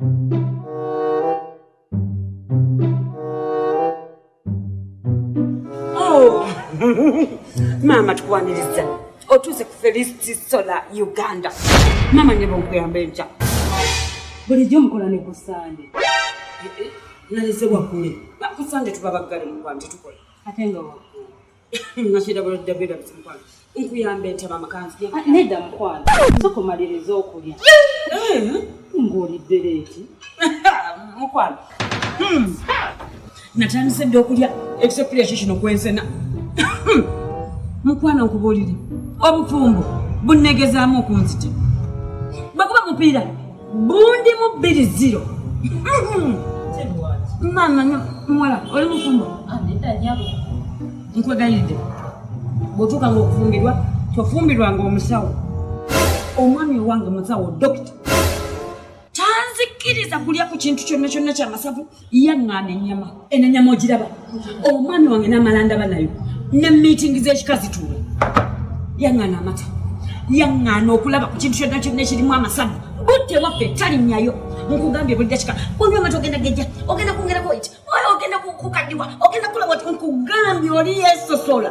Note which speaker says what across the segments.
Speaker 1: Oh. maama tukwaniriza otuuse ku felisiti sola uganda maama nyeba okuyamba enkya bulijjo
Speaker 2: mukola ne ku sande eh,
Speaker 1: eh, nalese wakule kusande tuba baggale mukwanje tukola ate nga wakule nedda mukwano
Speaker 2: soka omaliriza okulya ng'olidde leeti
Speaker 1: mukwano hmm. natandise dda okulya ekisepulya kyo kino kwensena mukwano nkubuulire obufumbo bunnegezaamu okunzita bwekuba mupiira bundi mu bbiri ziro maama muwala oli mufumbo
Speaker 2: nkwegalidde
Speaker 1: bwotuuka nga okufumbirwa tofumbirwanga omusawo omwami owange musawo dokita tanzikiriza kulya ku kintu kyonna kyonna kyamasavu yaŋŋaana ennyama eno ennyama ogiraba omwami wange n'amala ndaba nayo ne miitingi z'ekika zituula yaŋŋaana amata yaŋŋaana okulaba ku kintu kyonna kyonna ekirimu amasavu budde waffe talinnyayo nkugambye buli dakika onywa amata ogenda gejja ogenda kwongerako eki ogenda kukaddiwa ogenda kukola wati nkugambye oli yesosola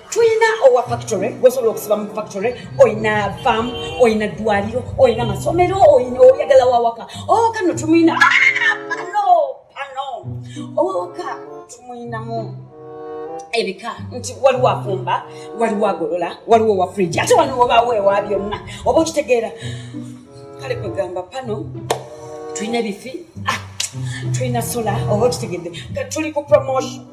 Speaker 1: tulina owa factory gwosobola okusiba mu factory olina fam olina ddwaliro olina masomero olina oyagala wawaka oh, kano tumwina ah, pano pano owawaka tumwinamu ebika nti waliwo afumba waliwo agolola waliwo wa fridge ate wano wobaawo ewa byonna oba okitegeera kale kwegamba pano tulina ebifi ah, tulina sola oba okitegedde tuli ku promotion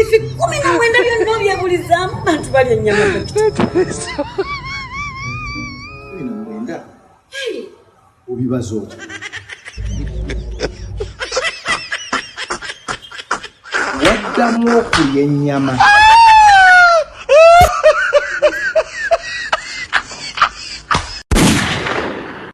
Speaker 1: efikumi na mwenda byonna obyebulizaamu bantu balya ennyama
Speaker 3: obibaza otya waddamu okulya ennyama